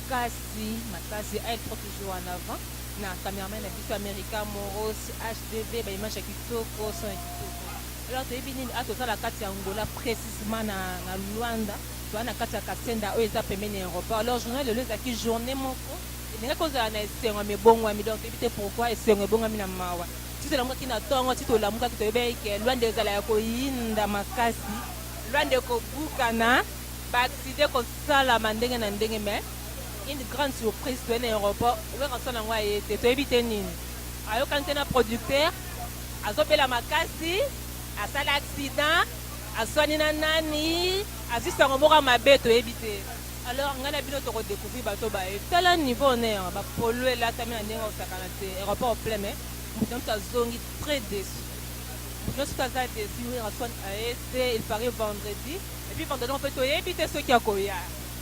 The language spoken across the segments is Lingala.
makasi makasi aile trop toujours en avant na cameraman na biso america moros hdv ba image ya kitoko son ya kitoko alors toyebi nini a tozala kati ya angola précisement na, na luanda toza na kati ya kasenda oyo eza pembeni ya aéroport alors journal lelo ezalaki journée moko elingaki ozala na esengo ya mibongwami donc toyebi te pourquoi esengo ebongwami na mawa ti tolamukaki na ntongo ti tolamukaki toyebaki ke luanda ezala ya koyinda makasi luanda ekobukana Ba accident eko salama ndenge na ndenge mais une grande surprise toye na aeroport Werrason yango aye te toyebi te nini ayokani te na producteur azo bela makasi asala accident aswani na nani azui sango moko ya mabe toyebi te alors ngai na bino toko decouvrir bato baye tala niveau on est ba polo elatami na ndenge osakana te aeroport plein mais moto na moto azongi très deçu moto na moto aza deçu Werrason aye te il paraît vendredi Et puis pendant donc to yebi te soki akoya.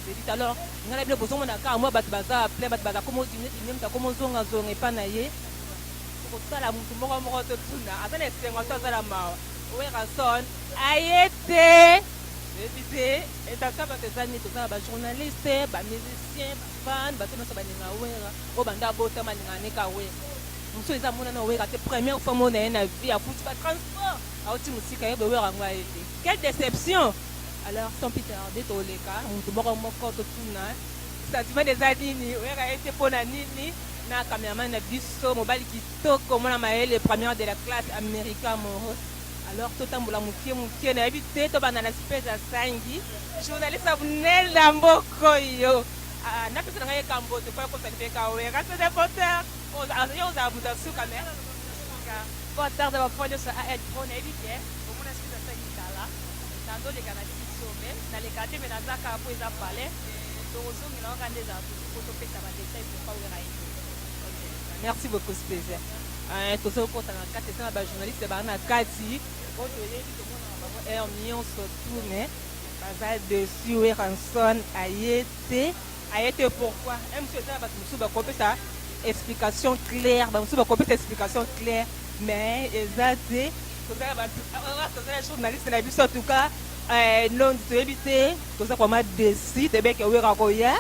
Je dis alors nga na bino bozomona kaka mwa bato baza plein bato baza komo diminuer diminuer moto akomo zonga zonga epai na ye. Tokotala moto moko moko totuna aza na esengo to aza na mawa. Werrason aye te toyebi te et en cas bato eza nini toza na ba journalistes, ba musiciens, ba fans bato nionso balinga Werra oyo banda abotama alingaka ne kaka Werra. Mosusu eza amona nanu Werra te première fois amona ye na vie akuti ba transports awuti mosika ayebi Werra yango aye te. Quelle deception! Alors sans plus tarder toleka mutu moko moko totuna sentiment eza nini oyaka ye te pona nini na cameraman na biso mobali kitoko mwana mayele première de la classe America Moros alors totambola mukie mukie nayebi te tobanda na space ya sangi journaliste Abnel na mboko yo Ah, napesa na ngai ekambo te mpo ekosani mpe kawera te depoteur oza- yo ozala moto ya suka me Sika po atarda ba fois nioso a aide trop nayebi ke omona soki na sangi kala nazo leka na sili sombe na leka te mais naza kaka po eza palais toko zongela wana kaka nde ezala toujours po to pesa ba details pour pas werra ete ok merci beaucoup speza eh tozo kota na kati eza na ba journaliste ba na kati po to yebi to mona na bango heure nioso tout mais baza dessus werrason aye te Aye te pourquoi? Ème si eza na batu mosusu bakoki kopesa explication claire, bamosusu bakoki kopesa explication claire mais eza te toza na batu awa toza na journaliste na biso en tout cas eh, nondi toyebi te toza kwama desi tebeke wera koya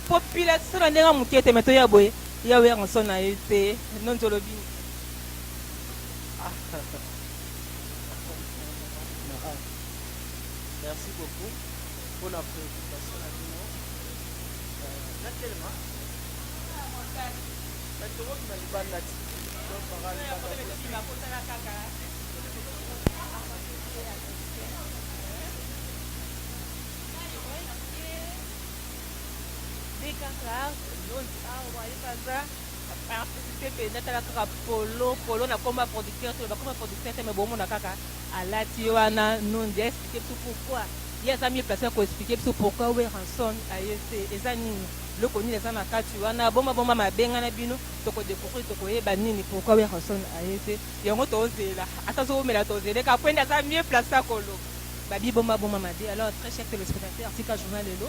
population na ndenge moke te me toya boye ya wera nso na ye te nondi olobi merci beaucoup pona preoccupation na bino natelema na tokoki na libanda ti kaka lonzi awa ye baza artiste te mpenza tala kaka polo polo na komba producteur te bakoma producteur te me bomona kaka Alati ye wana nonde explique biso pourquoi ye aza mieux place ya ko explique biso pourquoi werrason aye te eza nini eloko nini eza na kati wana boma boma mabengana bino toko decouvrir toko yeba nini pourquoi werrason aye te yango tozela ata zowumela tozele ka pwende aza mieux place ya kolo babi boma boma mabe alors très cher telespectateur tika journal lelo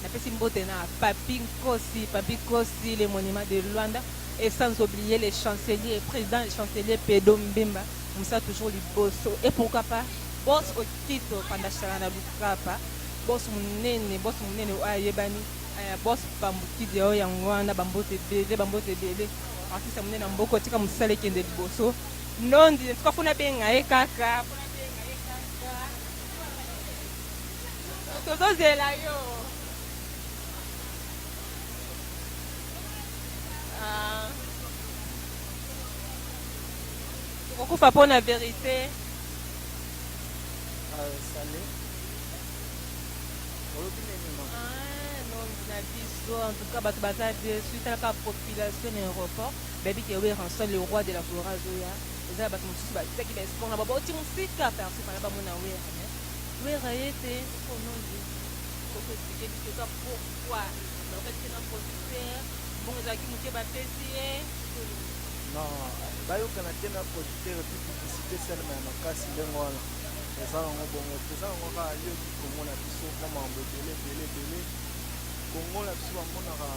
napesi mbote na papi nkosi papi nkosi le monument de luanda et sans oublier le chancelier président le chancelier pedo mbemba Musa toujours liboso et pourquoi pas boss okito pandashana na lukapa boss munene boss munene oyo ayebani aya boss pambukidi oyo yango wana bambote ebele bambote ebele artiste munene na mboko tika mosala ekende liboso nondi tuka funa benga ye kaka tozozela yo uh, Tokokufa po na verite. Ah, sale. Olobi nini mama? Ah, non, na biso en tout cas bato baza deçu talaka population na aéroport bayebi ke weranson le roi de la flora azoya eza bato mosusu batiaki baesport na baba oti mosika perso fana bamona wera me wera ye te onondi okoexplike biso eza pourquoi bakokaki te na producteur bongo ezalaki moke bapesi ye Non bayokana te na producteur epuis publicite esalema ya makasi ndenge wana eza nango bongo te eza nango kaka yoki congo na biso mwa makambo ebele ebele ebele congo na biso bamonaka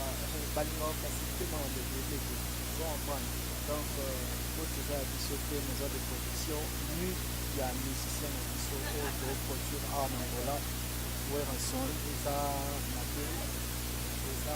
balingaka facilite makambo ebele te eza comprendre donc faute eza ya biso te mais eza de production nu ya musicien na biso oyo toproduire awa na angola werrason eza mabe eza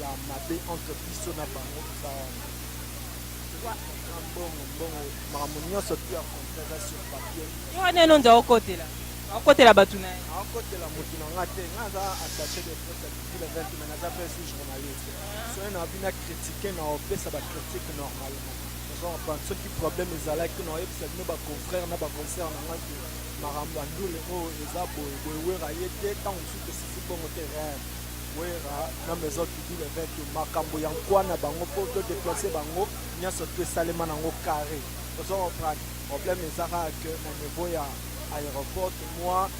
ya mabe entre biso na bango eza wana eza mbongo mbongo makambo nyonso ti ya contrat eza sur papier ye wana eno nza okotela akotela bato na ye akotela motu na nga te nga aza attaché de presse ya kikila vente mais naza mpe su journaliste soki na bina critique na opesa bacritique normalement ozokomprendre soki problème ezalaki na oyebisa bino baconfrère na baconcert na nga te makambo ya ndule oyo eza boye boye wera ye te ntango mosusu esisi bongo te rere Werra na maison du deal avec makambo ya nkwa na bango po to deplacer bango nionso tout esalema nango carre ozo comprendre problème eza kaka que na niveau ya aeroport mua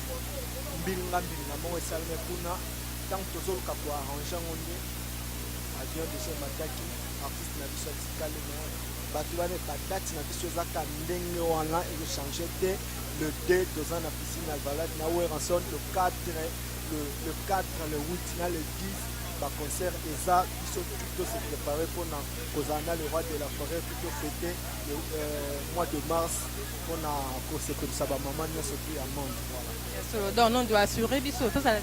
mbilinga mbilinga moko esaleme kuna tango tozoluka ko arranger yango nde avion déjà emataki artiste na biso atikali na bato wana badati na biso eza ka ndenge wana echange te le 2 toza na piscine alvalade na werrason le 4 Le le 4 le 8 na le 10 ba concert eza biso tout to se preparer pona kozala na le roi de la foret tout to fete le euh, mois de mars pona ko sepelisa ba maman nionso tout ya monde voilà Ya solo donc non doit assurer biso tozala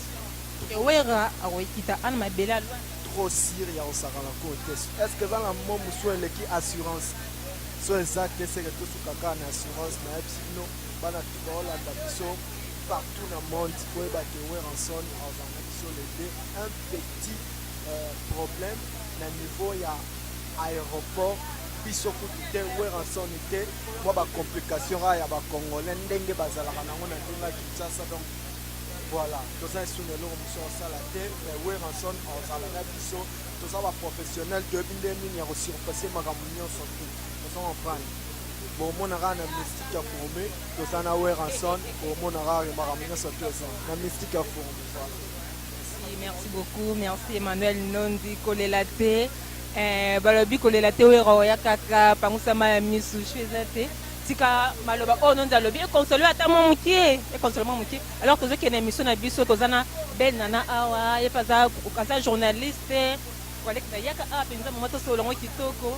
que Werra akoyikita ana mabele alwa. trop sur ya kosakana ko te est ce que eza na mo mosusu eleki assurance so eza te seke tosuka kaka na assurance nayebisi bino bana tout baolanda biso partout na monde boyeba ke Werrason azala na biso les deux un petit problème na niveau ya aeroport biso kutu te Werrason te mua ba complication kaka ya ba congolais ndenge bazalaka na ngo na niveau ya Kinshasa donc Voilà, toza esu na eloko mosusu akosala te mais Werrason azala na biso toza ba professionnel toyebi nde nini ya ko surpasser makambo nyonso te ozo comprendre bomona kaka na mystique ya gourmet toza na weranson omona rare makambo nyonso atu eza na mystique ya forum merci beaucoup merci emmanuel nondi kolela te eh, balobi kolela te wera oya kaka pangusama ya misu shu eza te tika maloba oyo nondi alobi ekonsole ata mwa moke ekonsole mwa moke alors tozokende emission na biso toza na ben nana awa ye mpe aza journaliste kolekisa yaka awa mpenza mama tosololango kitoko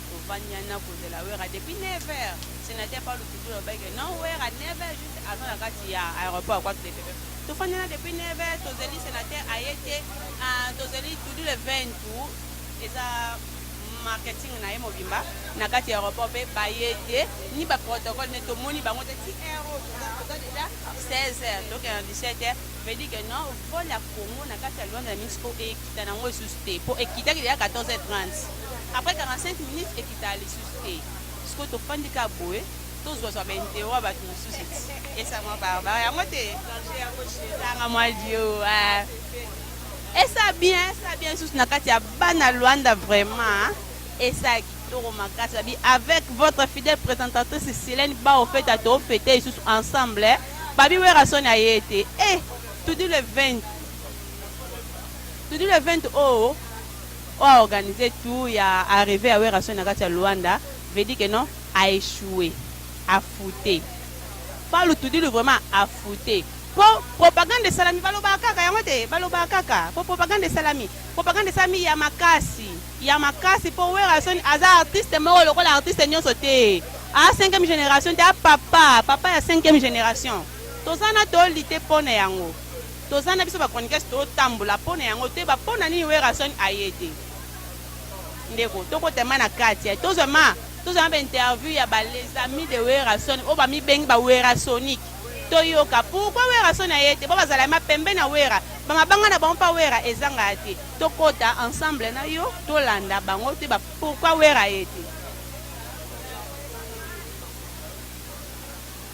Tovandi wana kozela Werra depuis 9 heures. Senateur Paul Lutundula alobaki que non Werra 9 heures juste aza na kati ya aeroport ya Kwatu Depepep. Tofandi wana depuis 9 heures tozeli senateur aye te. Ah, tozeli Tudu le 20 tu eza marketing na ye mobimba na kati ya aeroport mpe baye te ni ba protocole nde tomoni bango te ti heure oyo toza- toza deja 16 heures tokenda 17 heures veut dire que non vol ya congo na kati ya luanda ya mexico e ekita na yango lisusu te po ekitaki dejà 14h30 après 45 minutes ekita lisusu te sikoyo tofandi kaka boye tozwa zwa ba interro ya bato mosusu ti esa mwa barbare yango te ezanga mwa dio ah. esa bien esa bien lisusu na kati ya bana luanda vraiment esa kitoko makasi babi avec votre fidèle présentatrice silene baofeta toofete lisusu ensemble eh. babi werasoni aye te e eh, tudi le 20 Todi le 20 o o a organise tout ya arrive ya Werrason na kati ya Luanda veut dire que non a echoue a foute Palu Tudilu vraiment a foute po propagande esalami balobaka kaka yango te balobaka kaka po propagande esalami propagande esalami ya makasi ya makasi po Werrason aza artiste moko lokola artiste nionso te a 5e generation te a papa papa ya 5e generation toza na toli te pona yango toza na biso ba chroniqueurs totambola pona yango toyeba pona nini Werrason aye te ndeko tokota ma na kati ya tozwa ma tozwa ba interview ya ba les amis de Werrason oyo bamibengi ba Werrasonic toyoka pourquoi Werrason aye te bo bazala ma pembe na Werra ba mabanga na bango mpa Werra ezanga ya te tokota ensemble na yo tolanda bango toyeba pourquoi Werra aye te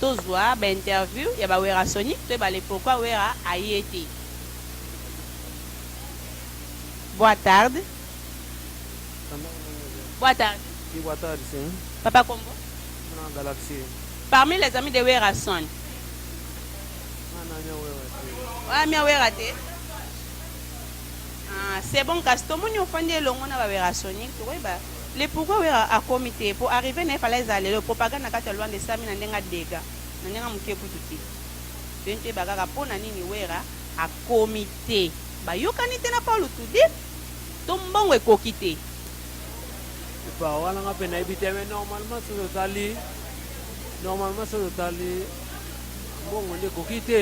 Tozua ba interview ya ba werrasonic toyeba le pourquoi werra aye te. Boa tarde. Boa tarde. Oui, boa tarde, sim. Papa Kombo. Muna Galaxy. Parmi les amis de Werrason. Oya mia Werra te. Ah, c'est bon kasi tomoni ofandi elongo na ba Werrasonic tokoyeba. Le pourquoi werra akomi te po arrive naye fallait ezala lelo propagande na kati ya luanda esalami na ndenge ya degat na ndenge ya mukie kutu te tolingi toyeba kaka pona nini werra akomi te bayokani te na paul tude to mbongo ekoki te. Epa wana nga pe nayebi te mais normalement soki otali normalement soki otali mbongo nde ekoki te.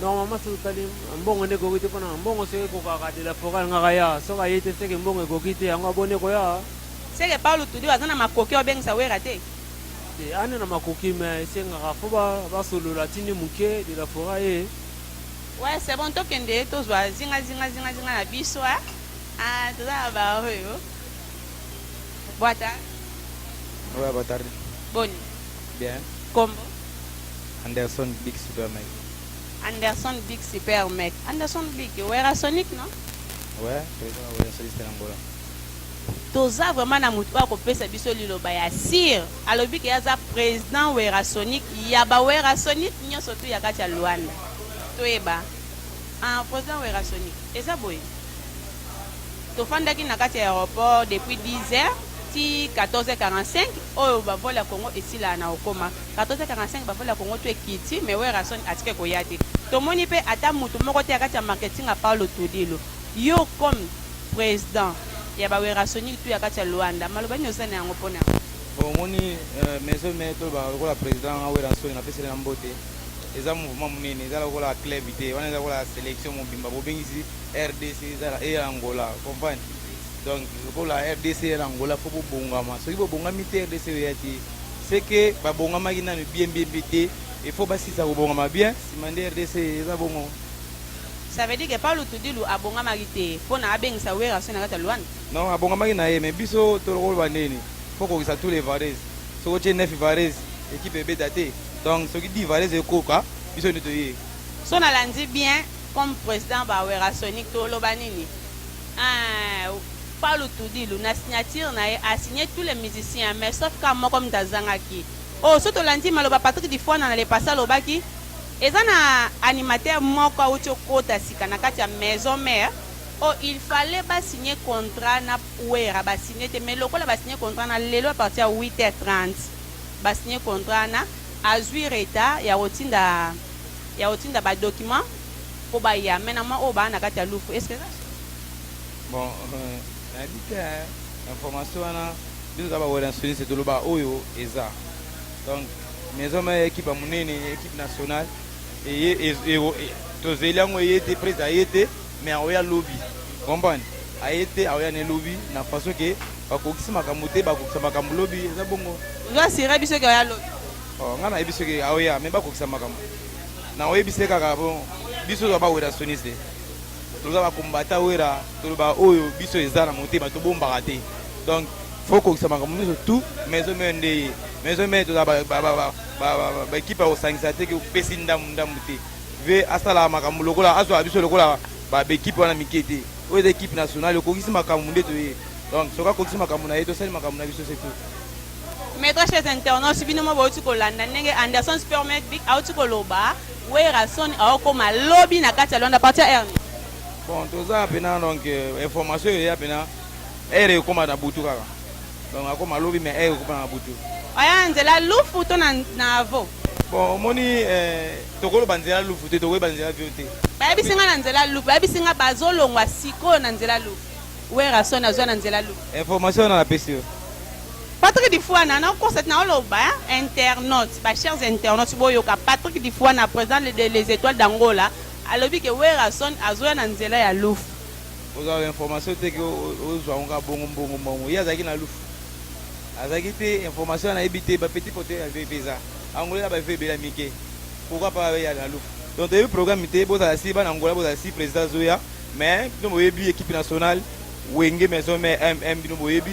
normalement soki otali mbongo nde ekoki te mpona mbongo soki ekokaka de la foret alingaka ya soki aye te seke mbongo ekoki te yango aboni ekoya seke paulo tudi aza na makoki obengisa wera te te ane na makoki me esengaka fo basolola tindi moke de la foret ye ouais c'est bon tokende tozwa zinga zinga zinga zinga na biso eh? ah, toza na baoyo bwata ouais, bwatari boni bien kombo Anderson big super mec. Anderson big super mec. Anderson big werrasonic non? Ouais, toza na werrasoniste na Angola. Toza vraiment na mutu oyo akopesa biso liloba ya sir. Alobi ke aza president werrasonic ya ba werrasonic nionso tu ya kati ya Luanda. Toyeba. Ah, president werrasonic. Eza boye. Tofandaki na kati ya aeroport depuis 10 heures ti 14h45 oyo ba vol ya Congo esilaa na okoma. 14 45 ba vol ya congo tout ekiti mais werrason atika ekoya te tomoni pe ata mutu moko te ya kati ya marketing ya paulo tudilu yo comme president ya ba werrasonic tout ya kati ya luanda maloba nini oza na yango pona yango. Bon omoni maison mere tolobaka lokola president nga werrason na peseli na mbote eza mouvement munene eza lokola club te wana eza lokola selection mobimba bobengisi rdc eza na eya angola comprendre donc lokola rdc eya na angola fo bobongama soki bobongami te rdc oya te ce que ba bongamaki nanu bien bien bien te il faut ba silisa ko bongama bien sima nde rdc eza bongo. Ça veut dire que pa Lutudilu abongamaki te pona abengisa Werrason na kati ya Luanda? Non, abongamaki na ye mais biso tokoloba nini? Faut kokisa tous les vareuses. Soki otie 9 vareuses, equipe ebeta te. Donc soki 10 vareuses ekoka, biso nde toye. So nalandi bien comme president ba Werrasonic toloba nini? Eeh palu tudilu na signature na ye a signe tout les musiciens mais sauf ka moko mde azangaki oh soki tolandi maloba Patrick Difwana na le passe alobaki eza na animateur moko awuti okota sika na kati ya maison mère oh il fallait ba signe contrat na werra ba signe te mais lokola ba signe contrat na lelo a partir ya 8 heure 30 ba signe contrat na azui retard ya kotinda ya kotinda ba documents po ba ya mais na mwa oyo ba na kati ya lufu est ce que eza solo? Bon na yebi te hein information wana biso toza ba welansonistes to loba oyo eza donc maison mère equipe ya munene equipe nationale eye e, to zeli yango eye te prise aye te mais aoya lobi comprendre aye te aoya ne lobi na façon que bakokisi makambo te bakokisa makambo lobi eza bongo ozo asire biso ke oya lobi oh, ngai nayebi soki aoya me bakokisa makambo na oyebise kaka po biso toza ba werasoniste toza ba combattant wera toloba oyo biso eza na motema tobombaka te donc faut kokisa makambo nyonso tout maison mère nde ye maison mère toza baekipe ya kosangisa te opesi ndambu ndambu te ve asala makambo lokola azwa biso lokola baekipe wana mike te oyo eza ekipe nationale okokisi makambo nde toye donc soki akokisi makambo na ye tosali makambo na biso se tout Maitre chez internautes bino mo bauti kolanda ndenge Anderson Spermet Big auti koloba Werrason aokoma lobi na kati ya Luanda partir Ernie. Bon toza pena donc euh, information eya pena ere ekoma na butu kaka donc akoma lobi mais ere ekoma na butu. Aya nzela lufu to na na avo. Bon omoni euh, tokoloba nzela lufu te tokoyeba nzela vio te. Bayebisi nga na nzela lufu bayebisi nga bazolongwa sikoyo na nzela lufu. Werrason azwa na nzela lufu. Information na napesi yo. Patrick Difuana na kosa na oloba internautes ba chers internautes boyoka Patrick Difuana president de les etoiles d'Angola alobi que Werrason azoya na nzela ya Lufu. Oza ba information te que ozwa ngo ka bongo mbongo mbongo ye azalaki na Lufu azalaki te information wana ayebi te ba petit pote ya VP eza Angola na ba VP ya mike pourquoi pas ya na Lufu donc toyebi programme te bozala si bana Angola bozala si president azoya mais bino boyebi equipe nationale wenge maison mère MM bino boyebi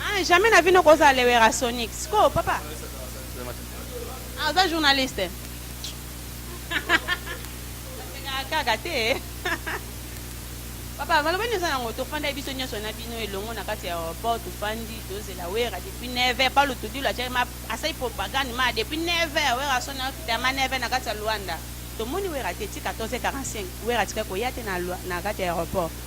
Ah, jamais na vie noko ozala le werasonic sikoyo papa ah, oza journaliste osekaka kaka te papa maloba nini oza nango tofanda ye biso nyonso na bino elongo na kati ya aéroport tofandi tozela wera depuis 9 heure palu tudilo atiaki ma asali propagande ma depuis 9 heure wera asoni akita ma 9 heure na kati ya luanda tomoni wera te ti 14 45 wera atikaki koya te na, na kati ya aéroport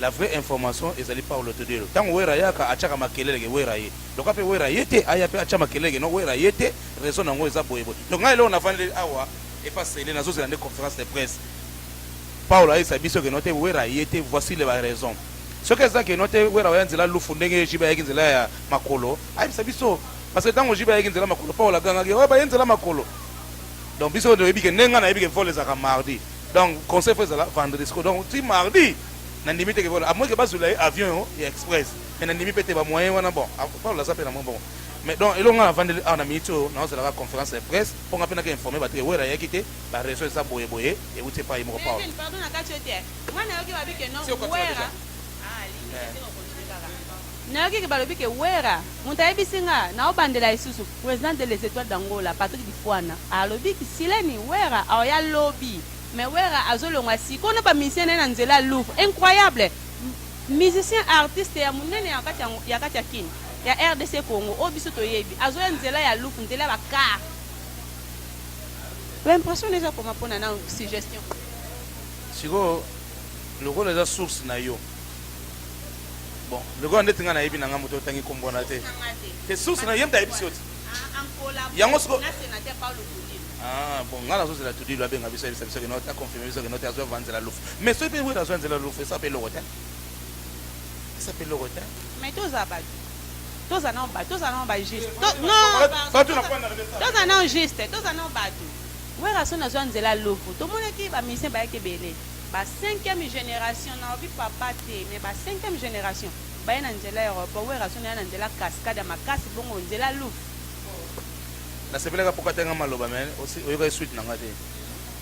La vraie information ezali Paulo Todielo tango werra ayaka atiaka makelele ke werra aye donc pe werra aye te aya pe atia makelele ke non werra aye te raison nango eza boye boye donc ngai eloko navandeli awa epa cele nazo zela nde conference de presse Paulo ayebisa biso ke non te werra aye te voici le ba raison soki eza ke non te werra oya nzela lufu ndenge JB ayaki nzela ya makolo ayebisa biso parce que tango JB ayaki nzela makolo Paulo agangaki oyo baye nzela makolo donc biso toyebi ke nde ngai nayebi ke vol ezalaka mardi Donc concert faut ezala vendredi sikoyo donc ti mardi nandimi te ke voilà à moins que bazwela ye avion yo ya express mais nandimi mpe te ba moyen wana bon apolo aza mpe na mwa bongo mais donc eloko nga na vandeli awa na minute oyo naozelaka conférence ya presse mpo nga mpe naka informe bato ke wera ayaki te ba raison eza boye boye euti epai moko paolo Kevin, pardon na kati yo te. Nga nayoki babi que non, Siokoti Werra. dejà. Ah, alingi te, te ko continuer kaka. Nayoki ke balobi ke werra mutu ayebisi nga nao bandela lisusu president de les etoiles d'angola Patrick Difuana alobi ki sileni werra aoya lobi mais werra azo longwa sikoyo na ba musiciens naye na nzela ya louvre incroyable musiciens artiste ya munene ya kati ya kati ya kin ya rdc congo oyo biso toyebi azoya nzela ya louvre nzela ya ba car ba impression nayo eza koma pona nao suggestion. Sikoyo lokola eza source nayo. Bon, lokola ndeti nga nayebi na nga moto otangi kombo wana te. Te source na yemta yebisi yo te. Yango siko Ah, bon, nga nazo zela tudi lo abenga biso yebisa biso kino ta confirmer biso kino te azo vanzela lufu. Mais soki pe wera azo vanzela lufu, esa pe loko te. Esa pe loko te. Mais toza ba toza na ba toza na ba juste. Non. Batu na kwanda na Toza na juste, toza na batu. Wera sona zo vanzela lufu. Tomonaki ba musiciens bayaki ebele. Ba cinquième generation nalobi papa te mais ba cinquième generation baye na nzela ya aeroport werrason aya na nzela cascade ya makasi bongo nzela louf Na sepelaka pourquoi atali nga maloba mais osi oyokaki suite na nga te.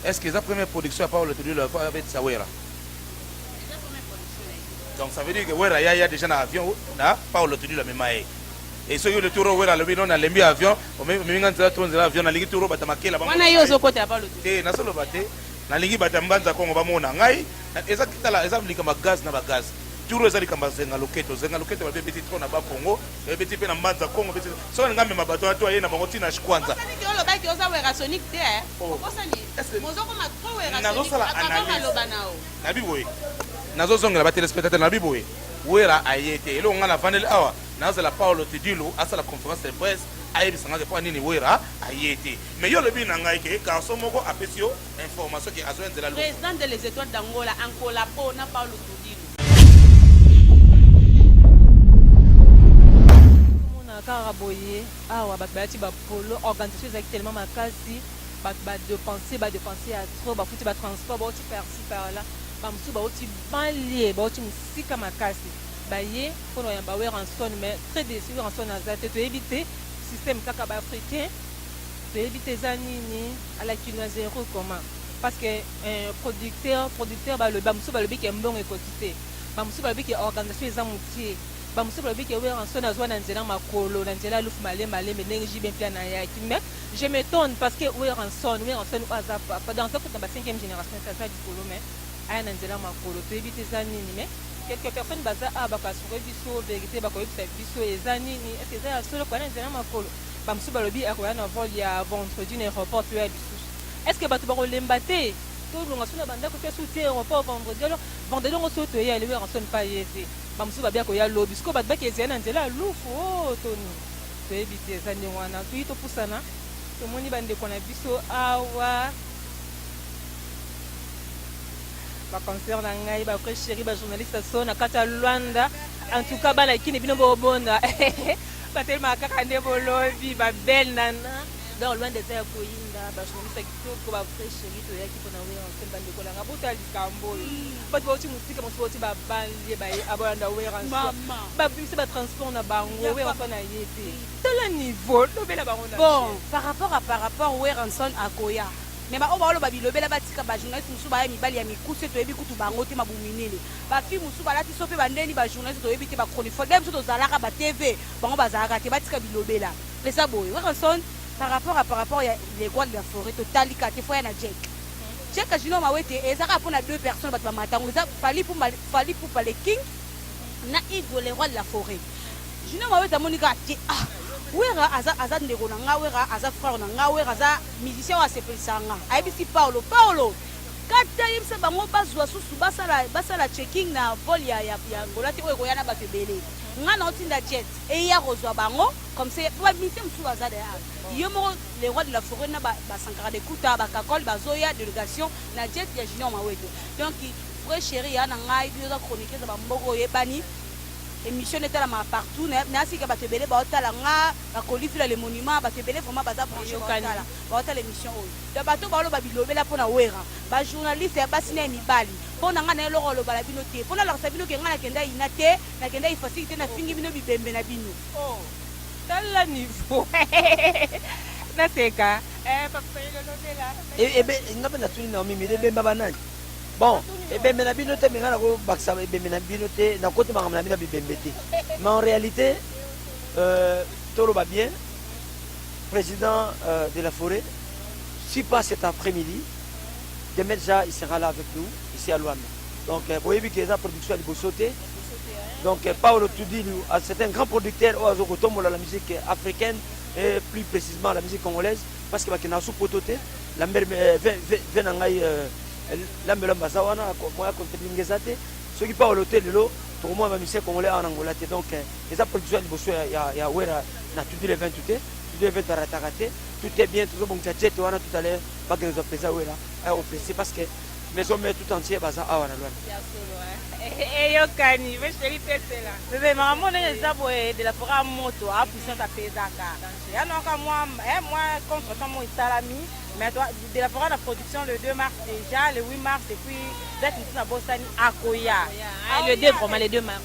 Est ce que eza première production ya Paulo Tulilo ya fois abetisa Werra? eza première production na ye Donc ça veut dire que Werra ya ya dejà na avion na Paulo Tulilo amema ye. Et soki le tour oyo Werra alobi non nalembi avion, omemi omemi nga nzela trop nzela avion nalingi tour oyo bata makela bango. wana yo ozokotela paulo Tulilo. Te nazoloba te Nalingi bato ya mbanza kongo bamona ngai eza tala eza likambo ya gaz na ba gaz turo eza likambo ya zenga loketo zenga loketo babe beti trop na ba kongo babe beti pe na mbanza kongo beti soki alinga mema bato wana to aye na bango ti na shkwanza Osali ki olobaki oza werasonic te eh. Oh. Okosani. Est-ce que- Mozo koma trop werasonic. Nazosala Akaba analyse. maloba na yo. nabi boye nazozongela batelespectateur nabi boye wera aye te eloko ngai navandeli awa nazala paolo tidilu asala conférence de presse ayebisa ngai mpo nini wera aye te Mais yo olobi na ngai ke garçon moko apesi yo information ke azo ya nzela lokuta. President de les etoiles d'Angola en collabo na Paulo Tudilu. Nazomona kaka boye awa batu balati ba polo, organisation ezalaki tellement makasi, batu ba depenser, ba depenser ya trop, bafuti ba transport, bawuti par ci par là, ba mosusu bawuti banlieue, bawuti mosika makasi, baye pona koyamba Werrason mais très deçu, Werrason aza te, toyebi te système kaka ba africains. Toyebi te eza nini à la kino zero comment parce que euh, producteur producteur balobi bamosusu balobi ke mbongo ekoki te bamosusu balobi ke organisation eza motie bamosusu balobi ke weranson azwa na nzela makolo na nzela lufu malembe alembe ndenge jibe mpe anayaki mais je m'étonne parce que weranson weranson oyo aza papa donc aza kuta ba 5e génération te aza likolo mais aya na nzela makolo toyebi te eza nini mais quelques personnes baza awa bakoasure biso verité bakoyebisa biso eza nini eke eza ya solo koya na nzela makolo ba mususu balobi akoya na vol ya vendredi na aeroport to ya lisusu est ce que batu bakolemba te tolonga so na ba ndako te so te aeroport vendredi alors vendredi yango so toye ale werrason pa ye te ba mususu babi akoya lobi sikoyo bato baki ezali na nzela ya lufu o oh, toni toyebi te eza ndenge wana toyi topusana tomoni bandeko na biso awa baconcert na ngai bavrai chéri bajournaliste so na kati ya lwanda en tout cas bana kini bino bobonda Batelemaka kaka nde bolobi ba belle nana. Donc loin d'être ya koyinda ba journaliste ya kitoko ba vrai chérie toyaki pona Werra Nsoni ba ndeko nanga botala likambo oyo bato bauti mosika mosusu bauti ba banlie baye abolanda Werra Nsoni babimisa ba transport na bango Werra Nsoni aye te tala niveau lobela bango na Bon, par rapport à par rapport, Werrason akoya. Mais ba oyo baoloba bilobela batika ba journalistes mosusu baya mibali ya mikuse toyebi kutu bango te mabumu minene. Ba filles mosusu balati sope ba ndeni ba journaliste toyebi te ba chronifuati biso tozalaka ba TV bango bazalaka te batika bilobela eza boye Werrason par rapport à par rapport ya le roi de la foret totali kaka te faut aya na Jack Jack ya Junior Mawete eza kaka pona deux personnes bato ba matango eza Fally Pumba Fally Pupa le king na Igo le roi de la foret Junior Mawete amoni kaka te ah Werra aza aza ndeko na nga Werra aza frère na nga Werra aza musicien oyo asepelisaka nga ayebisi Paulo Paulo Kata yebisa bango bazwa susu basala basala checking na vol ya ya ya Angola te oyo ekoya na bato ebele nga na otinda jet eya kozwa bango comme ça po ba mission mosusu baza da yo moko le roi de la forêt na ba, ba Sankara de Kuta ba Kakol bazoya delegation na jet ya Junior Mawete donc vrai chéri ya na ngai bino za chroniquer za ba mboko oyebani émission nde etalamaka partout na na asika bato ebele baotala nga bakoli vila le monument bato ebele vraiment baza branche baotala Bakotala emission oyo donc bato oyo baloba bilobela pona werra ba journaliste ya basi na ya mibali pona nga naye eloko ya kolobala bino te po nalakisa bino ke nga nakenda ina te nakenda ifasic te nafingi bino bibembe na bino oh tala niveau naseka eh papa fayulu olobela e, ebe nga pe natuni na mimi ebemba banani bon ebembe na bino te me nga nakobakisa ebembe na bino te nakoti makambo na bino ya bibembe te mais en réalité euh, toloba bien President de la foret si pas cet après midi demain dejà il sera là avec nous ici à Luanda donc boyebi ke eza production ya liboso te donc Paolo Tudilu c'est un grand producteur oyo azo kotombola la musique africaine et plus précisément la musique congolaise parce que bakenda su poto te lambert ve na ngai lambe lamba aza wana moya kontelinga eza te soki Paolo te lelo tokomona ba musicien congolais awa na Angola te donc eza production ya liboso ya, ya, ya wera na tout le 20 te tout le 20 arataka te tout est bien tozobongisa jet wana tout à l'heure bakende zwa mpenza wera eh, opesi parce que maison mère tout entier baza awa na lwana eyokani vesheli pesela bebe mama mona eza boye de la fora moto a puissance apezaka yanoka mwa eh, mwa contretemps mo esalami mais de la fora na production le 2 mars déjà le 8 mars et puis date mosusu na bosani akoya ah, le 2 vraiment le 2 mars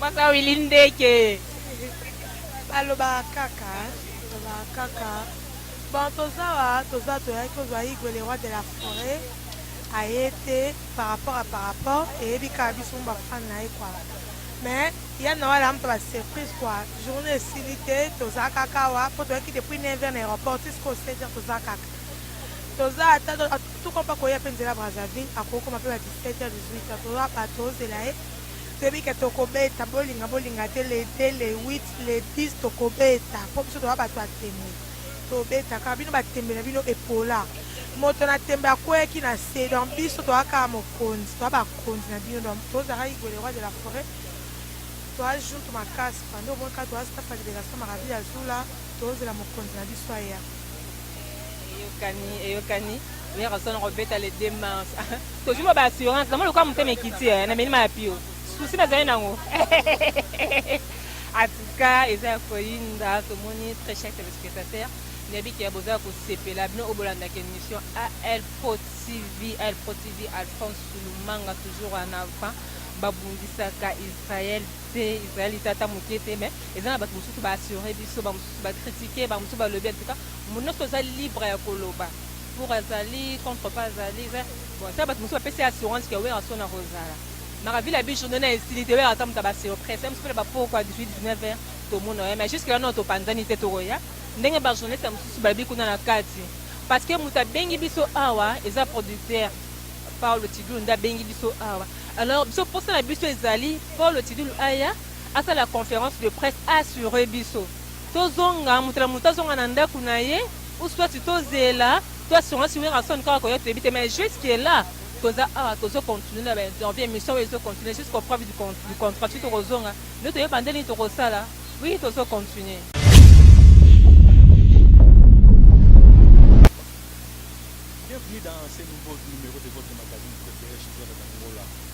Pasta Willy ndeke balobaka kaka balobaka kaka bon toza wa toza toyaki ozwa igwe le roi de la foret aye te par rapport à par rapport eyebi kaka biso mba fan na ye kwa mais ya na wala mpa ba surprise kwa journée esili te toza kaka wa mpo toyaki depuis 9 heures na aéroport ti sikoyo 7 heures toza kaka toza ata tukompa koya mpe nzela brazzaville akoki koma mpe ba 17 heures 18 heures toza bato ozela ye Toyebi ke tokobeta bolinga bolinga te le 2 le 8 le 10 tokobeta po biso toza batu ya tembe tobeta kaka bino batembe na bino epola moto na tembe akweyaki na se donc biso toza kaka mokonzi toza bakonzi na bino donc tozaka igwe le roi de la foret toza juntu makasi pande omoni kaka toza staff ya liberation maraville azula tozela mokonzi na biso aya eyokani eyokani werrason akobeta le 2 mars tozwi mwa baassurance namoni lokola motema ekiti eh, na milima ya pio susi nazali nango atuka eza ya koyinda tomoni très cher téléspectateur nayebi ke bozala kosepela bino oyo bolandaka émission al pro tv al pro tv alphonse sulumanga toujours en avant babundisaka israel te israel eza ata moke te mais Eza na batu mususu ba assurer biso, ba mususu ba critiquer, ba mususu balobi en tout cas mutu nionso aza libre ya koloba pour azali contre pas azali eza bon eza na batu mususu bapesi ye assurance que Werrason akozala mara vile abi journée na esili te Werrason mutu ba surprise ye mususu ba pourquoi 18 19 heures tomona ye mais jusque là non topanzani te tokoya ndenge ba journaliste ya mususu balobi kuna na kati parce que mutu abengi biso awa eza producteur Paulo Tidulu nde abengi biso awa alors biso posa na biso ezali Paulo Tidulu aya asala conference de presse a assurer biso tozonga moto na moto azonga na ndaku na ye ou soit tozela to assurance Werrason kaka koya toyebi te mais jusque là toza awa tozo continuer na ba interview emission oyo ezo continuer jusqu'au preuve du con- du contrat soki tokozonga nde toyeba nde nini tokosala oui tozo continuer Bienvenue dans ce nouveau numéro de votre magazine Côté H, Journal d'Angola.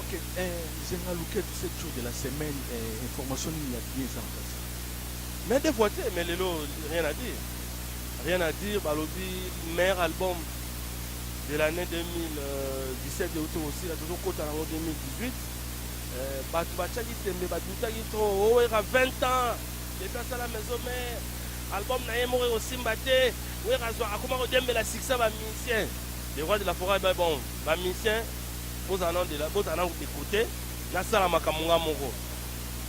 Ok eh, zenga luketu 7 jours de la semaine eh, information nini ya bien eza na kati mais des fois te mais lelo rien à dire rien à dire balobi meilleur album de l'année 2017 euti kosila tozokota nango 2018 Eh, bato batiaki tembe badutaki to owera 20 ans depuis asala maison mare album na ye moko ekosimba te wera azwa akoma kodembela succès bamusicien le roi de la foret ba bon bamusicien Bozala nanu dela bozala nanu de cote nasala makambo nga moko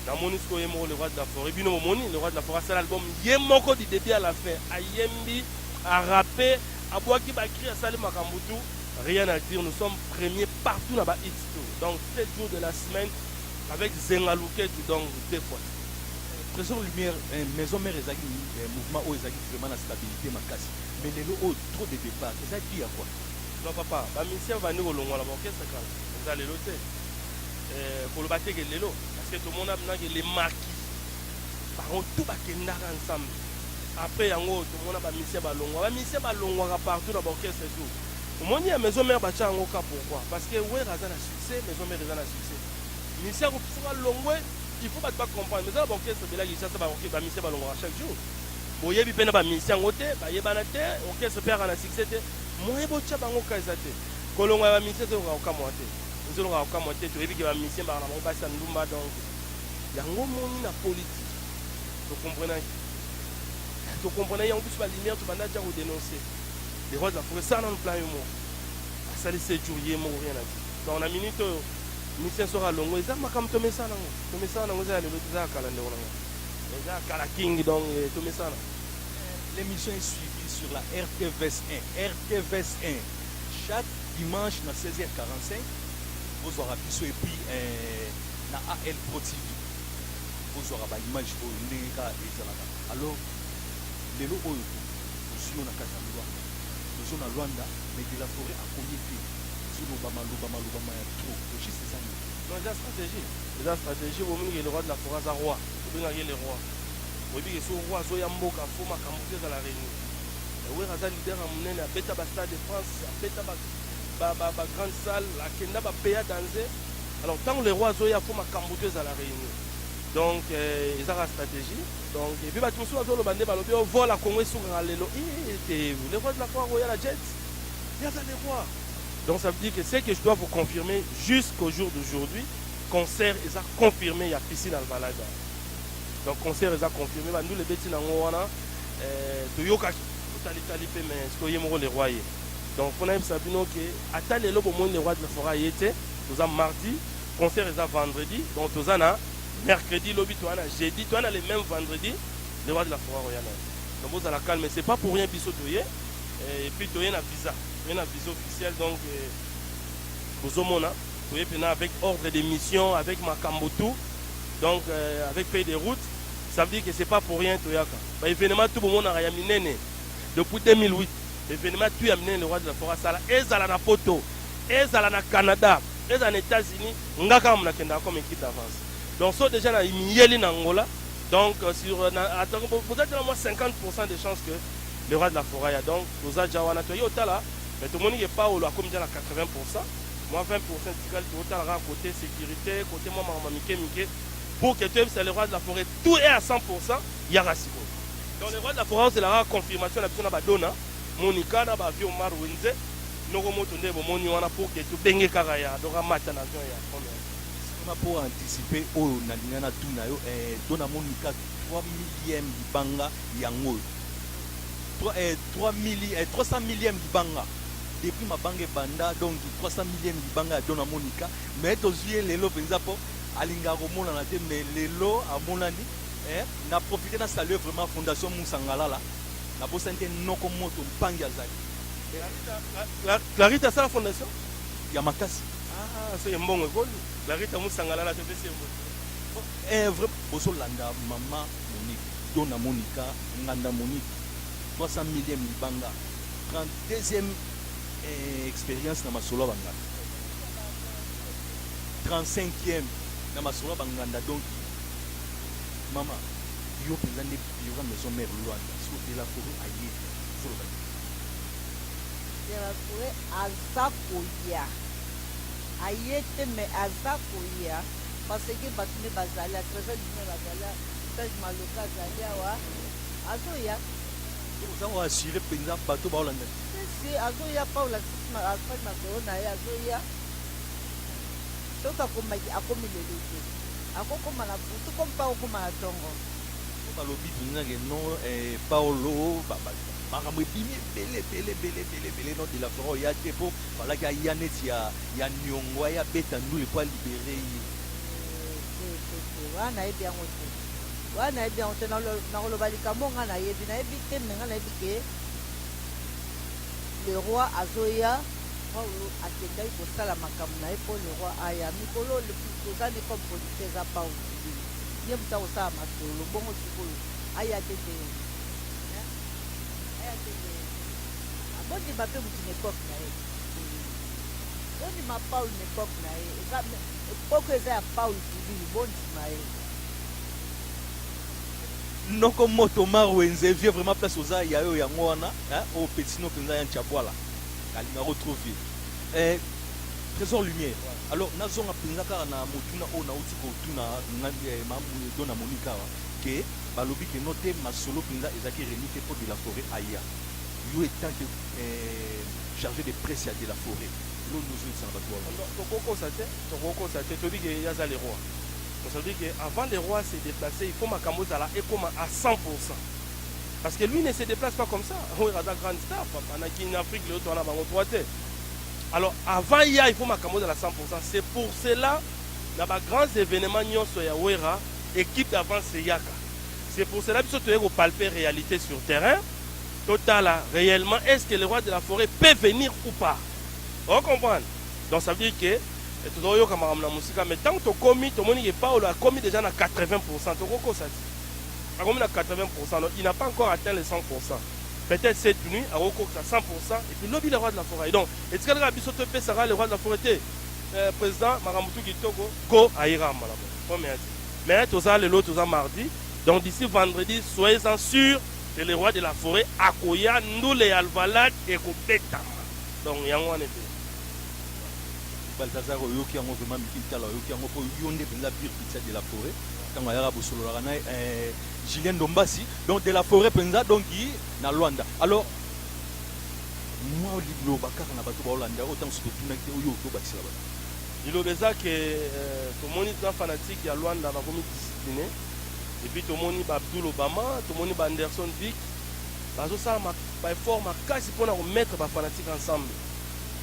namoni sikoyo ye moko le roi de la foret bino bomoni le roi de la foret asala album ye moko du debut à la fin ayembi a rappe abwaki ba cri asali makambo tout rien à dire nous sommes premier partout na ba hits tout donc 7 jours de la semaine avec zenga luketu donc deux fois Tresor Lumière, eh, maison mère ezalaki eh, mouvement oyo ezalaki vraiment na stabilité makasi mais lelo oyo trop de départ eza dû à quoi Non papa, ba musiciens babandi kolongwa na ba orchestre kala, eza lelo te. Euh, koloba te ke lelo, parce que tomona mna ke les marquis, bango tout bakendaka ensemble. Après yango tomona ba musiciens balongwa, ba musiciens balongwaka partout na ba orchestre et tout. Omoni ya maison mère batia yango ka pourquoi? Parce que Werra aza na succès, maison mère eza na succès. Musicien akopusaka alongwe, il faut batu ba comprendre. Mais eza na ba orchestre ebele ya Kinshasa ba orchestre ba musiciens balongwaka chaque jour. boyebi pe na ba musicien yango te bayebana te orchestre pe aka na succès te moyen botia bango ka eza te kolonga ya ba musicien ezolonga kokamua te ezolonga kokamua te toyebi ke ba musicien baka na bango basi ya ndumba donc yango omoni na politique tokomprenaki tokomprenaki yango biso ba lumière tobanda atia ko denoncer le roi de la forêt sala nanu plan yo moko asali sejour ye moko rien na ti donc na minute oyo musicien soki alongo eza makambo tomesana yango tomesana yango eza ya lelo te eza ya kala ndeko na ngai Eza ya kala king donc tomesana. L'emission est suivie sur la RTVS 1. RTVS 1, chaque dimanche na 16h45, bozwaka biso et puis eh, na AL Pro TV. Bozwaka ba image oyo ndenge ka ezalaka. Alors, lelo oyo tozwi yo na kati ya Luanda. Tozo na Luanda, mais de la forêt akomi te. Zoloba maloba maloba ma ya trop. Logiste eza moto. Non eza strategie. Eza strategie bomoni que le roi de la foret aza roi tobengaka ye le roi oyebi que soki roi azoya mboka faut makambu tout ezala reuni mais werra aza leader ya munene abeta ba stade de France abeta ba ba ba ba grande salle akenda ba paya danze alors tangu le roi azoya faut makambu tout ezala reuni donc euh, eza ka strategie donc et puis batu mosusu bazoloba nde balobi o oh, vola Congo esukaka lelo eh, te le roi de la foire akoya na jet yaza le roi Donc ça veut dire que ce que je dois vous confirmer jusqu'au jour d'aujourd'hui, concert eza confirmé ya piscine Alvalaga. Donc concert eza confirmé, ba ndule beti na ngo wana euh, toyokaki totali tali pe mais siko ye moko le roi ye. Donc pona yebisa bino ke ata lelo bomoni le roi de la forêt ye te, toza mardi, concert eza vendredi, donc toza na mercredi lobi toza na jeudi, toza na le même vendredi le roi de la forêt royale. Donc bozala calme, c'est pas pour rien biso toye et puis toye na visa. Toye na vision officielle donc euh, bozomona toye pena avec ordre de mission avec makambo tout donc euh, avec pays de route ça veut dire que c'est pas pour rien toyaka ba événement tout bomonaka ya minene depuis 2008 événement tout ya minene le roi de la forêt asala ezala na poto ezala na canada ezala na états-unis nga kaka monakendaka comme équipe d'avance donc so déjà na miyeli na angola donc euh, sur euh, atako bozali tena mwa 50 de chance que Le roi de la foret ya donc toza dja wana toye otala mais tomoni ke paulo akomi dja na 80 pourcent mwa 20 pourcent etikali toko tala kaka cote securite cote mwa makambo ya mike mike pour ke toyebisa le roi de la foret tout est à 100 pourcent yaka sikoyo donc le roi de la foret ozela kaka confirmation na biso na ba dona monica na ba vieux omar wenze noko moto nde bomoni wana pour ke tobenge kaka ya donc amata na avion ya première Sima po anticiper oyo nalinga na tuna yo eh, dona monica 3 millième libanga yango oyo. 3 eh, 3 milli, eh, 300 millième libanga depuis mabanga ebanda donc 300 millième libanga ya dona monica mais tozwi ye lelo mpenza mpo alingaka komonana te mais lelo amonani eh, na profite na salue vraiment fondation musangalala nabosani te noko moto mpangi azali clarita asala fondation ya makasi ah, soki mbongo ekoli clarita musangalala topesi ye mbongo eh, vrai bozolanda mama Monique to na Monica nganda Monique 300 millième libanga 30 deuxième eh, experience na masolo ya banganda 35e na masolo ya banganda donc mama yo mpenza nde yoka maison mère luanda soki otela koro aye zoloba delacoure aza koya aye te me aza koya parce que batu nde bazali ya trésor du nord azali ya serge maloka azali awa azoya oza ko assurer mpenza bato baolanda si azoya paul afaki masolo na ye azoya soki akomaki akomi lelo te akokoma na butu komi mpe akokoma na ntongo balobi mpenza ke no eh, paolo makambo ebimi ebele ebele ebele ebele ebele no de la fora oya te mpo Falaki aya neti ya ya niongo aya abeta ndule po a libere ye. Te te te wana nayebi yango te wana nayebi yango te nakoloba likambo nga nayebi nayebi te me nga nayebi ke le roi azoya paulo akendaki kosala makambo na ye mpo le roi aya mikolo toza nde comme politique eza paulo kibili ye moto akosala masolo bongo sikoyo aya te te aya te te Ah, bondima pe mutu na epoque na ye. Hmm. Bondima Paul na epoque na ye. Eza epoque eza ya Paul Kibili, bondima ye. Noko moto Omar Wenze, vieux vraiment place oza ya yo yango wana, hein, o petino penza ya Nchabwala. Kalinga ko trop vieux. Eh, Trésor Lumière. Alors nazonga penza kaka na motuna oyo nauti kotuna na eh, ma dona Monica awa que balobi que no te masolo penza ezaki remis te mpo de la forêt aya. Yo etant que eh, charge de presse ya de la foret eloko nini ozongisa na batu wana? Non, non, tokokosa te, tokokosa te, toyebi ke ye aza le roi. Mais ça veut dire que avant le roi se deplacer, il faut makambo ezala ekoma à 100 pourcent. Parce que lui ne se deplace pas comme ça. Werra aza grande star, papa, na Kin Afrique, leo toana bango trois te. Alors avant ya, il faut makambo ezala 100 pourcent. C'est pour cela, na ba grands événements nyonso ya Werra, équipe d'avance eyaka. C'est pour cela biso toye ko palper réalité sur terrain. to tala reellement est ce que le roi de la foret peut venir ou pas o comprendre donc ça veut dire que eh, tozo yoka makambo na musika mais tant to komi to moni que Paulo a komi déjà na 80% to ko kosa ti a komi na 80% donc il n'a pas encore atteint les 100% peut-être cette nuit a ko kokisa 100% et puis lobi le roi de la foret donc et tika ka biso to pesa ka le roi de la foret te eh, président makambo tu kitoko go ayira mbala mo comme ya ti mais toza lelo toza mardi donc d'ici vendredi soyez en sûr c'est le roi de la foret akoya ndule ya alvalade ekobetama donc yango wana ebele. Balthazar oyoki yango vraiment mikili tala oyoki yango po yo nde penza pire pizza de la foret tango ayaka bosololaka na eh, Julien Dombasi donc de la foret penza donc na Luanda alors mwa liloba kaka na bato baolanda oyo ntango soki totunaki te oyo tobakisela bato liloba eza ke euh, tomoni na fanatike ya Luanda bakomi discipline et puis tomoni ba Abdoul Obama, tomoni ba Anderson Vic bazosala ba effort makasi mpo na ko mettre ba fanatiques ensemble.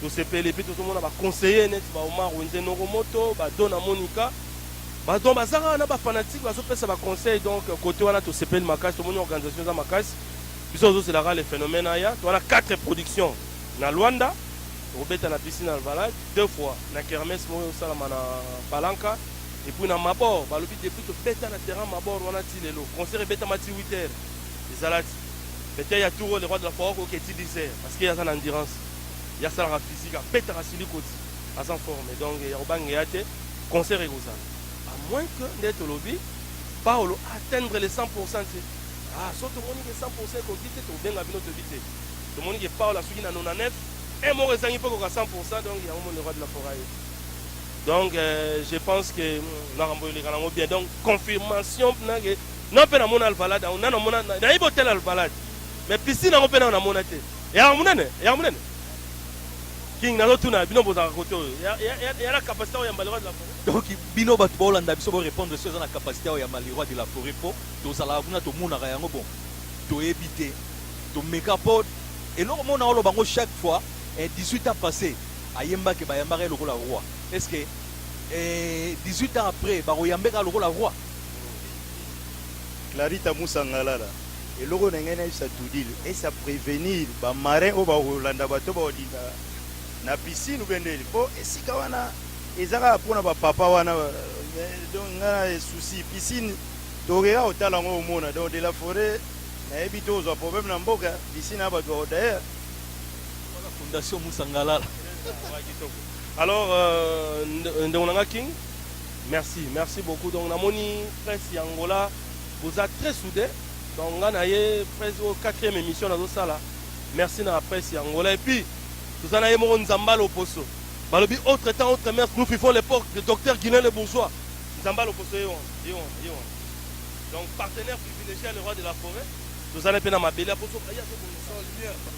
Tosepeli et puis tozomona ba conseillers neti ba Omar Wenze Noromoto, ba Dona Monica, ba donc baza kaka na ba fanatiques bazopesa ba conseils donc cote wana tosepeli makasi, tomoni organisation eza makasi. Biso tozozela kaka le phenomène aya. Toza na quatre productions na Luanda, tokobeta na Piscine Alvalade deux fois, na kermesse moko ekosalama na Palanca, Et puis na mabor balobi depuis tobeta na terrain mabor wana ti lelo concert ebetama ti 8 heures ezala ti Beton ya tour oyo le roi de la foire akoke ti 10 heures parce que aza na endurance ye asalaka physique abetaka siliko ti aza en forme donc ya kobangeya te concert ekozala à moins que nde tolobi Paolo a atteindre le 100 pourcent te ah soki tomoni ke 100 pourcent ekoki te tokobenga bino toyebi te tomoni ke Paolo asuki na 99 un moko ezangi mpe ekoka 100 pourcent donc yango moni le roi de la foire aye Donc euh, je pense que nakambo eleka nango bien donc confirmation na ke na pe na mona alvalade yango na na mona na yebi hotel alvalade mais piscine yango pe na na mona te ya munene ya munene king nazo tuna bino bozaka kote oyo ya na capacité oyo ya mbali la forêt donc bino bato baolanda biso borépondre soki eza na capacité oyo ya maliroi de la forêt mpo tozalaka kuna tomonaka yango bon toyebi te tomeka mpo eloko mona oloba yango chaque fois 18 eh, ans passé Ayembake bayambaka ye lokola roi est ce que eh, 18 ans après bakoyambe kaka lokola roi? Clarita Musangalala, eloko na ngai nayebisa Tudil ese a prevenir ba marins oyo bakolanda bato oyo bakodinda na piscine ou bien ndeni, po esika wana eza kaka po na ba papa wana mais donc nga na souci piscine tokoki kaka kotala yango omona donc de la foret nayebi tokozwa problème na mboka piscine ya bato bako d'ailleurs Wana fondation Musa Ngalala. Ouais, kitoko. Alors, euh, nd- ndeko na nga King, merci, merci beaucoup. Donc, namoni presse ya Angola, boza très soudés. Donc, nga na ye presse au quatrième émission nazo sala. Merci na presse ya Angola. Et puis, toza na ye moko Nzamba Loposo. Balobi autre temps, autre mère, nous vivons l'époque de docteur Guilain le bourgeois. Nzamba Loposo ye wana, ye wana, ye wana. Donc, partenaire privilégié à le roi de la forêt. Toza na ye mpe na mabele aposo. Aya, azo bongisa.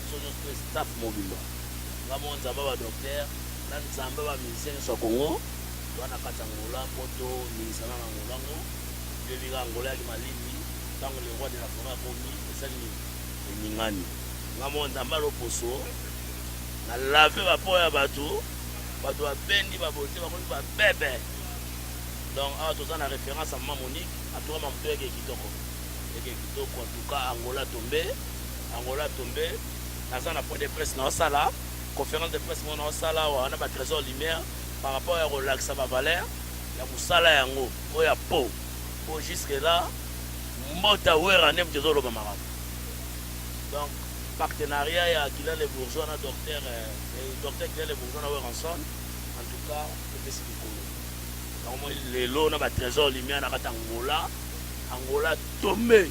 biso nionso pe staff mobimba nga moko nzambe ya ba docteur na nzambe ya ba musicien nionso ya congo toza na kati ya angola po to ningisa na na angola ngo toyebi kaka angola ya kimalimbi tango le roi de la foret akomi esali nini eningani nga moko nzambe ya loposo na lave ba po ya batu batu ba bendi ba bote ba komi ba bebe donc awa toza na reference ya mama monique atukama moto yake kitoko yake kitoko atuka angola tombe Angola tombe naza na point de presse nao sala conference de presse moko nao sala awa na ba tresor lumière par rapport ya ko lakisa ba valeur ya musala yango oyo ya po po jusque là mbota werra nde mutu ezo loba makambo donc partenariat ya Guilain le bourgeois na docteur euh, docteur Guilain le bourgeois na Werrason en tout cas epesi likolo yango moi lelo na ba tresor lumière na kata Angola Angola tombe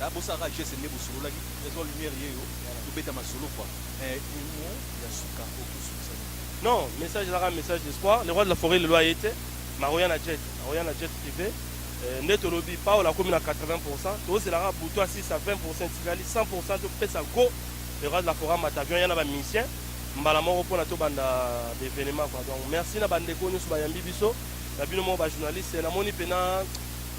Ba bosa ka geste nde bosololaki tresor lumière yeyo tobeta masolo quoi eh emuon ya suka oko sukisa nini. Non message eza kaka message d'espoir le roi de la foret lelo aye te mais akoya na jet akoya na jet prive euh nde tolobi paul akomi na 80 pourcent tozela kaka butu asilisa 20 pourcent etikali 100 pourcent topesa go le roi de la foret amata avion aya na ba musicien mbala moko pona tobanda ba evenement quoi donc merci na ba ndeko nioso bayambi biso na bino moko ba journaliste namoni pena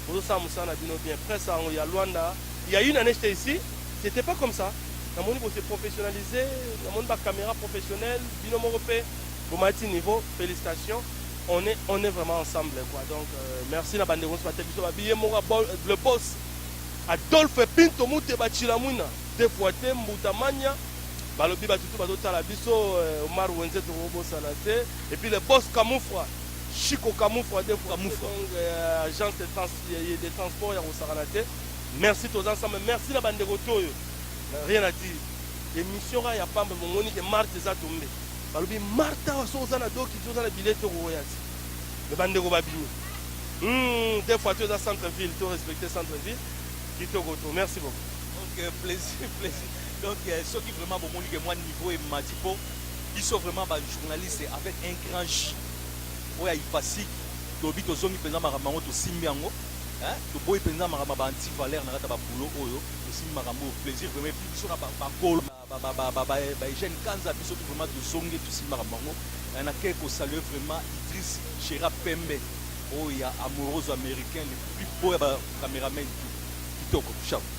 Bozo sala musala na bino bien presse yango ya luanda il ya une annee j'etais ici c'etait pas comme ça na moni bo se professionnaliser na moni ba camera professionnel bino moko pe bo mati niveau felicitation on est on est vraiment ensemble quoi donc euh, merci na bande ko ba biso ba billet moko le boss Adolphe Pinto Muteba Chilamwina deux fois te mbuta mania balobi batutu bazotala biso euh, Omar Wenze tokobosana te et puis le boss Kamufra Chico Kamufwa de Kamufwa. Donc, euh, agence de, trans, de transport ya kosakana te. Merci toza ensemble. Merci na bandeko toyo. Rien à dire. Emission ya pamba bomoni ke Marthe eza tombe. Balobi Martha wa soza na doki toza na billet toko oya ti. Me bandeko babimi. Hmm, des fois toza centre ville, to respecter centre ville. Kitoko to. Merci beaucoup. Donc euh, plaisir, plaisir. Donc euh, ceux qui vraiment bomoni ke moi niveau et matipo, ils sont vraiment ba journalistes avec un grand J. Oyo ya Ipasik tolobi tozongi penza makambo yango tosimbi yango hein toboyi penza makambo ya ba anti valeur na kati ya ba boulot oyo tosimbi makambo oyo plaisir vraiment epuis biso na ba kolo ba Eugène Kanza biso tout vraiment tozongi tosimbi makambo yango hein na ke ko saluer vraiment Idriss Chera Pembe oyo ya Amoroso Americain le plus beau ya ba cameramen tout kitoko chapeau.